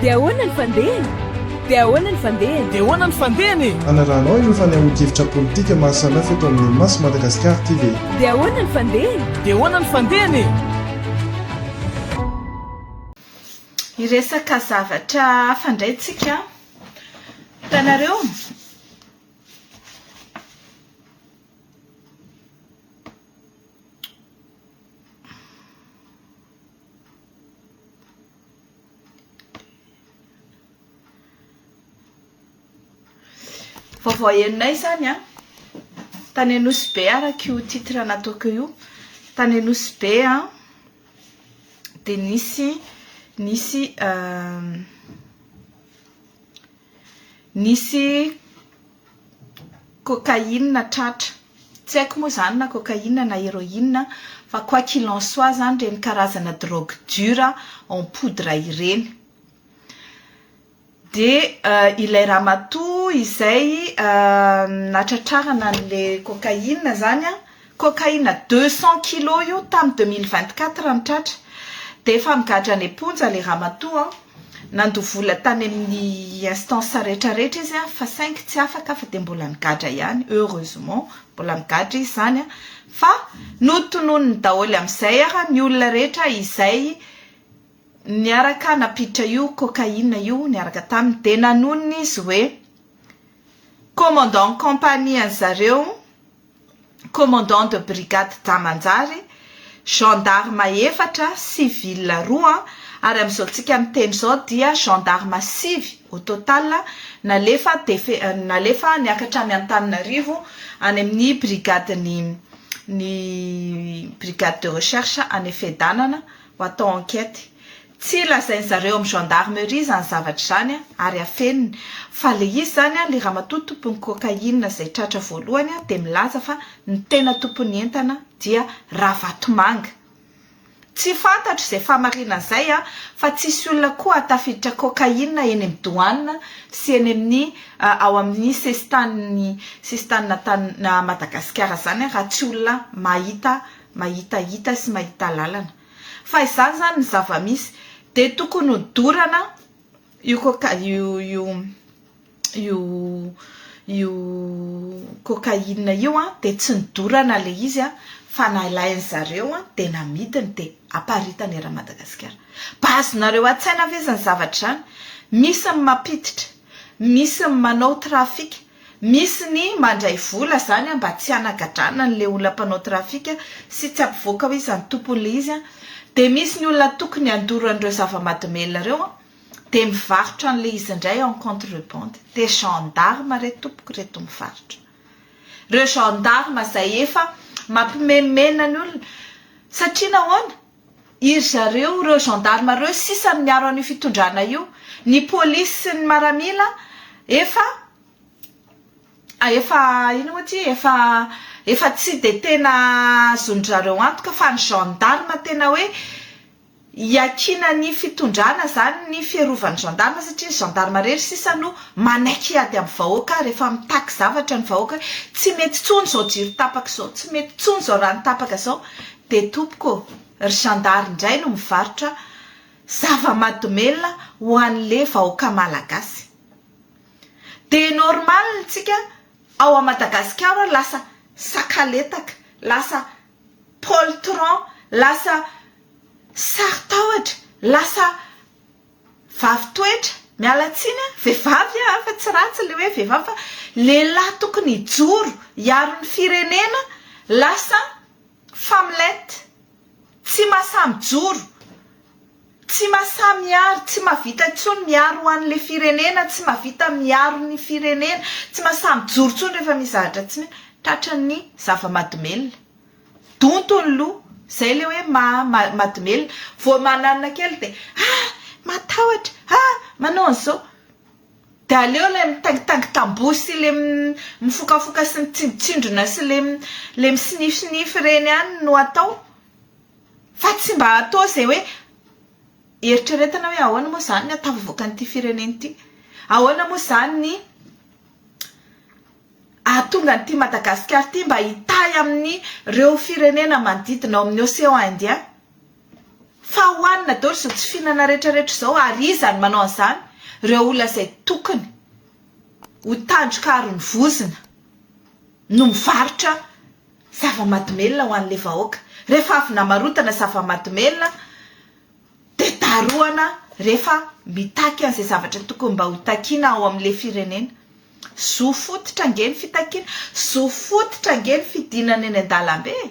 Dia ahoana ny fandehany? Dia ahoana ny fandehany? Dia ahoana ny fandehany e? Hanarahanao ireo fanehoan-kevitra politika maha samihafa eto amin'ny Maso Madagasikara TV. Dia ahoana ny fandehany? Dia ahoana ny fandehany e? Hiresaka zavatra hafa indray tsika. Hitanareo? Vaovao henonay izany an! Tany Anosy Be araka io titre nataoko io. Tany Anosy Be an dia nisy nisy euh, nisy cocaïne tratra. Tsy haiko moa izany na cocaïne na héroïne fa quoi qu'il en soit izany ireny karazana drogue dure en poudre ireny. Dia ilay ramatoa izay nahatratrarana an'ilay cocaïne izany an! Cocaïne deux cent kilos io tamin'ny deux mille vingt quatre no tratra dia efa migadra any am-ponja ilay ramatoa an! Nandoa vola tany amin'ny instance rehetra rehetra izy an! fa saingy tsy afaka fa dia mbola migadra ihany, heureusement mbola migadra izy izany an! fa notononiny daholo amin'izay ara ny olona rehetra izay niaraka nampiditra io cocaïne io niaraka taminy dia nanonona izy hoe commandant compagnie an'zareo commandant de brigade Tamanjary, gendarme efatra, civil roa, ary amin'izao tsika miteny izao dia gendarme sivy au total nalefa nalefa niakatra any Antananarivo any amin'ny brigade ny ny brigade de recherche any Fedanana ho atao enquête. Tsy lazain zareo am gendarmerie izany zavatra izany a, ary afeniny, fa le izy zany a, le ramatoa tompon'ny cocaïne izay tratra voalohany a, dia milaza fa ny tena tompon'ny entana dia Ravatomanga. Tsy fantatro izay fahamarinana izay a, fa tsisy olona koa tafiditra cocaïne eny am douane sy eny amin'ny ao amin'ny sesitan'ny sistan'Antann Madagasikara izany a, raha tsy olona mahita mahita hita sy mahita lalana. Fa izany izany ny zava-misy dia tokony ho dorana io coca io io io io cocaïne io an, dia tsy nidorana ilay izy an, fa nalain'ny zareo an dia namidiny dia aparitany eran'i Madagasikara. Mba azonareo an-tsaina ve izany zavatra izany? Misy ny mampiditra, misy ny manao trafic. Misy ny mandray vola zany an mba tsy hanagadrana an le olona mpanao trafika sy tsy ampivoaka hoe iza no tompon le izy an, de misy ny olona tokony handoro an ireo zava-madomelina reo an de mivarotra an le izy ndray en contre bande, de gendarme re tompoko reto mivarotra reo gendarme zay efa mampimemena ny olona satria nahoana? Iry zareo, ireo gendarme ireo sisa no miaro an'io fitondrana io. Ny polisy sy ny maramila efa efa inona moa ity efa efa tsy dia tena azon-dry zareo antoka fa ny gendarme tena hoe iakinan'ny fitondrana izany ny fiarovan'ny gendarme satria ny gendarme irery sisa no manaiky hiady amin'ny vahoaka rehefa mitaky zavatra ny vahoaka hoe tsy mety intsony izao jiro tapaka izao, tsy mety intsony izao rano tapaka izao. Dia tompoko ô! Ry zandary indray no mivarotra zava-madomelina ho anle vahoaka malagasy. Dia normal ny tsika ao a Madagasikara lasa sakaletaka, lasa poltron, lasa sarotahotra, lasa vavy toetra, miala tsiny a, vehivavy a fa tsy ratsy le hoe vehivavy fa lehilahy tokony hijoro hiaro ny firenena lasa. Famlet, tsy masaha mijoro, tsy masaha miaro, tsy mahavita intsony miaro ho an'ilay firenena, tsy mahavita miaro ny firenena, tsy masaha mijoro intsony rehefa misy zavatra tsy mety, tratran'ny zava-madomelina. Donto ny loha, izay ilay hoe maha madomelina. Vao mananina kely dia, ah! matahotra, ah! manao an'izao. Dia aleo ilay mitangitangy tamboho sy ilay mifokafoka sy mitsindrotsindrona sy ilay ilay misinifinify ireny ihany no atao fa tsy mba atao izay hoe eritreretina hoe ahoana moa izany ny hahatafavoaka an'ity firenena ity? Ahoana moa izany ny hahatonga an'ity Madagasikara ity mba hitahy amin'ireo firenena manodidina ao amin'ny Océan Indien? Fa ho anona daholo izao tsy fihinana retraretra izao ary iza no manao an'izany? Ireo olona izay tokony ho tandroka aron'ny vozona no mivarotra zava-madomelina ho an'ilay vahoaka. Rehefa avy namarotana zava-madomelina dia darohana rehefa mitaky an'izay zavatra tokony mba ho takiana ao amin'ilay firenena. Zo fototra ange ny fitakiana, zo fototra ange ny fidinana eny an-dalambe e!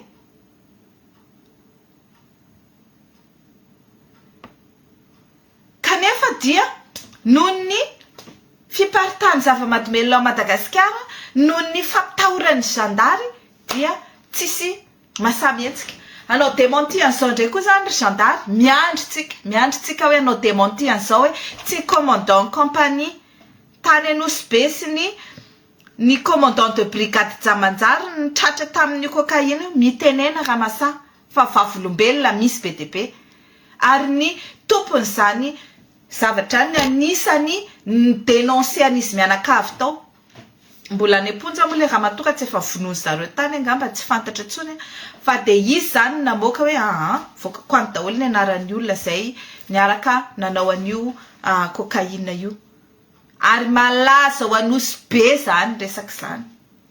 Kanefa dia noho ny fiparitahan'ny zava-mahadomelina ao Madagasikara, noho ny fampitahoran'ny zandary dia tsisy masaha mihetsika. Hanao dementie an'izao indray koa izany ry zandary, miandry tsika, miandry tsika hoe hanao dementie an'izao hoe tsy commandant compagnie tany Anosibe sy ny. Ny commandant de brigade Jamanjary no tratra tamin'io cocaïne io, mitenena Ramasaha fa vavolombelona misy be dia be ary ny tompon'izany zavatra ny anisany ni-denoncer an'izy mianakavy tao, mbola any am-ponja moa ilay ramatoa ka tsy efa vonoin'izy zareo tany angamba, tsy fantatra intsony an, fa dia izy izany no namoaka hoe aa voakako any daholo ny anaran'ny olona izay niaraka nanao an'io cocaïne io. Ary malaza ho Anosy be zany resaka zany.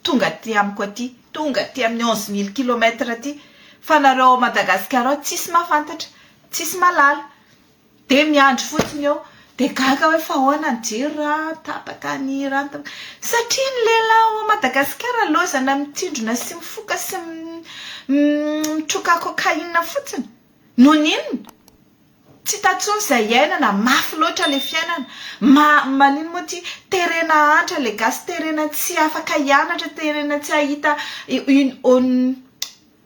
Tonga aty amiko aty, tonga aty amin'ny onze mille kilomètre aty, fa nareo ao Madagascar ao tsisy mahafantatra, tsisy mahalala. Dia miandry fotsiny eo, dia gaga hoe fa ahoana ny jiro raha tapaka ny rano tapaka. Satria ny lehilahy ao Madagascar laozana mitsindrona sy mifoka sy mitroka cocaïne fotsiny. Noho ny inona? Tsy hita tsony izay iainana, mafy loatra le fiainana, ma manino moa ty, terena antra le gasy, terena tsy afaka hianatra, terena tsy hahita une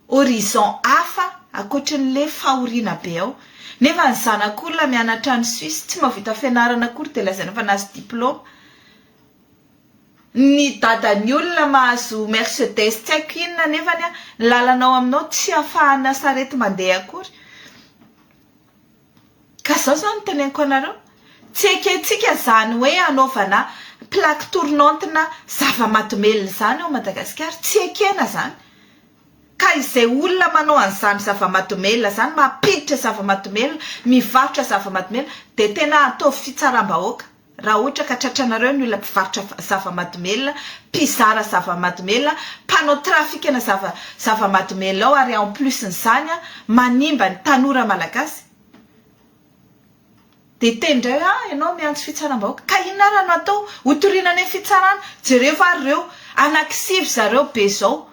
horizon hafa ankoatry ny le fahoriana be ao, nefa ny zanak'olona mianatra any Suisse tsy mahavita fianarana akory dia lazaina fa nahazo diploma. Ny dadan'ny olona mahazo mercedes tsy haiko inona nefany an, ny lalana ao aminao tsy afahana sarety mandeha akory ka izao izao no teneniko anareo tsy ekentsika izany hoe anaovana plaque tournante na zava-mahadomelina izany ao Madagasikara, tsy ekena izany ka izay olona manao an'izany zava-mahadomelina izany, mampiditra zava-mahadomelina, mivarotra zava-mahadomelina dia tena ataovy fitsaram-bahoaka. Raha ohatra ka tratranareo ny olona mpivarotra zava-madomelina, mpizara zava-madomelina, mpanao trafikana zava zava-madomelina ao ary en plus n'izany an, manimba ny tanora malagasy, dia hiteny indray hoe ah ianao miantso fitsaram-bahoaka, ka inona ary no atao? Ho toriana any amin'ny fitsarana? Jereo ary ireo, anakisivy zareo be izao,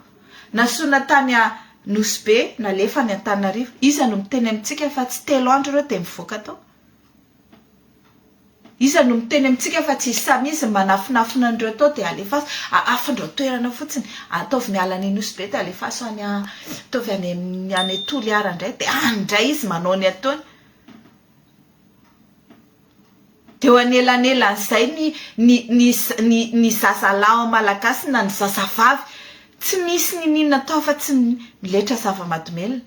nasorina tany a Nosy Be, nalefa any Antananarivo, iza no miteny amintsika fa tsy telo andro ireo dia mivoaka tao? Iza no miteny amintsika fa tsy samy izy ny manafinafina an'ireo tao dia alefaso ahafindrao toerana fotsiny. Ataovy miala any Nosy Be dia alefaso any ataovy any amin'ny any Toliara indray dia any indray izy manao ny ataony. Dia eo anelanelan'izay ny ny ny ny ny zazalahy malagasy na ny zazavavy tsy misy n'inon'inona atao afa-tsy ny miletra zava-mahadomelina.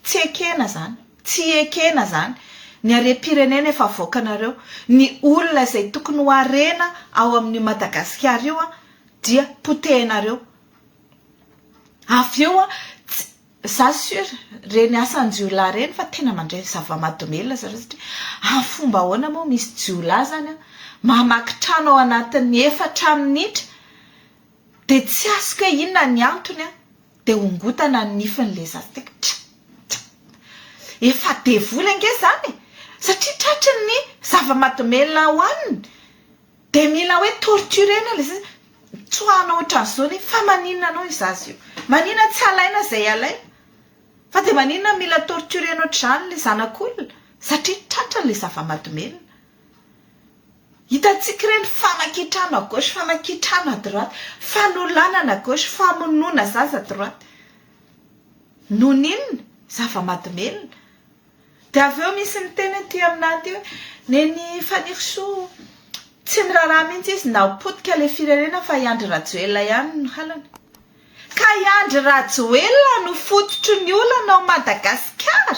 Tsy ekena zany, tsy ekena zany. Ny harem-pirenena efa avoakanareo, ny olona izay tokony ho harena ao amin'io Madagasikara io dia potehinareo. Avy eo, tsy, za sur ireny asan-jiolahy ireny fa tena mandray zava-mahadomelina zareo satria amin'ny fomba ahoana moa misy jiolahy zany mamaky trano ao anatin'ny efatra minitra, Dia tsy azoko hoe inona ny antony an! Dia hongotana ny nifiny ilay zaza teo ka tra! tra! Efa devoly ange izany e! Satria tratry ny zava-mahadomelina hohaniny dia mila hoe torturer-na ilay zaza, tsoahina ohatran'izao ny nify, fa maninona anao io zaza io? Maninona tsy alaina izay alaina? Fa dia maninona mila torturer-na ohatr'izany ilay zanak'olona? Satria tratry ilay zava-mahadomelina. Hitantsika ireny fanakitrana à gauche, fanakitrana à droite, fanolanana à gauche, famonoana zaza à droite. Noho ny inona? Zava-mahadomelina. Dia avy eo misy niteny aty aminà aty hoe Neny Fanirisoa tsy miraharaha mihitsy izy na ho potika ilay firenena fa i Andry Rajoelina ihany no halany. Ka i Andry Rajoelina no fototry ny olana ao Madagasikara?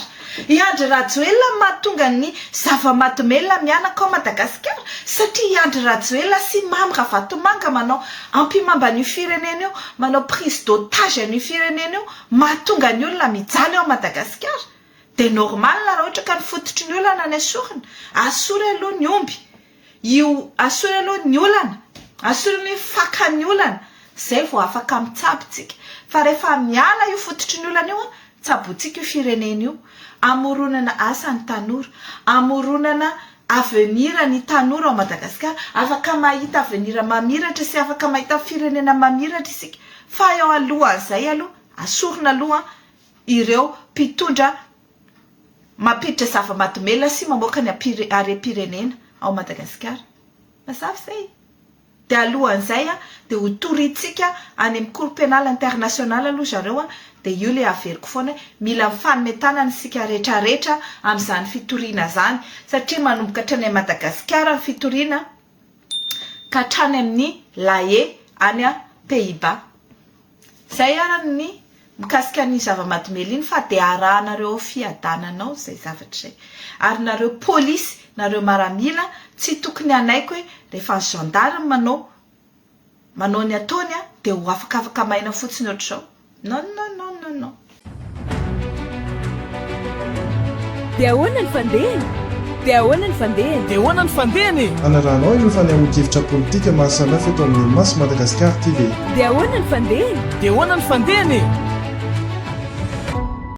I Andry Rajoelina no mahatonga ny zava-mahadomelina mihanaka ao Madagasikara? Satria i Andry Rajoelina sy Mamy Ravatomanga manao ampihimamba an'io firenena io, manao prise d'otage an'io firenena io, mahatonga ny olona mijaly ao Madagasikara? Dia normal raha ohatra ka ny fototry ny olana no esorina? Asory aloha ny omby. Io asore aloha ny olana, asore ny hoe faka ny olana, zay vao afaka mitsabo tsika. Fa rehefa miala io fototry ny olana io an, tsabointsika io firenena io. Amoronana asa ny tanora, amoronana avenir ny tanora ao Madagasikara. Afaka mahita avenir mamiratra sy afaka mahita firenena mamiratra isika. Fa eo alohan'izay aloha, asorina aloha ireo mpitondra mampiditra zava-mahadomelina sy mamoaka ny harem-pirenena ao Madagasikara. Mazava izay. Dia alohan'izay dia ho torintsika any amin'ny Cour Pénale Internationale aloha zareo dia io ilay haveriko foana hoe mila mifanome tanana isika rehetra rehetra amin'izany fitoriana izany satria manomboka hatrany amin'i Madagasikara ny fitoriana ka hatrany amin'ny La Haye any Pays-Bas. Zay arany ny mikasika an'iny zava-mahadomelina iny fa dia arahanareo ao fiadanana ao izay zavatra izay. Ary nareo polisy, nareo maramila tsy tokony hanaiky hoe rehefa ny gendarme manao manao ny ataony dia ho afakafaka maina fotsiny ohatr'izao. Non non non non non. Dia ahoana ny fandehany? Dia ahoana ny fandehany? Dia ahoana ny fandehany e? Anarahanao ireo fanehoan-kevitra politika maro samihafa eto amin'ny Mas Madagascar TV. Dia ahoana ny fandehany? Dia ahoana ny fandehany e?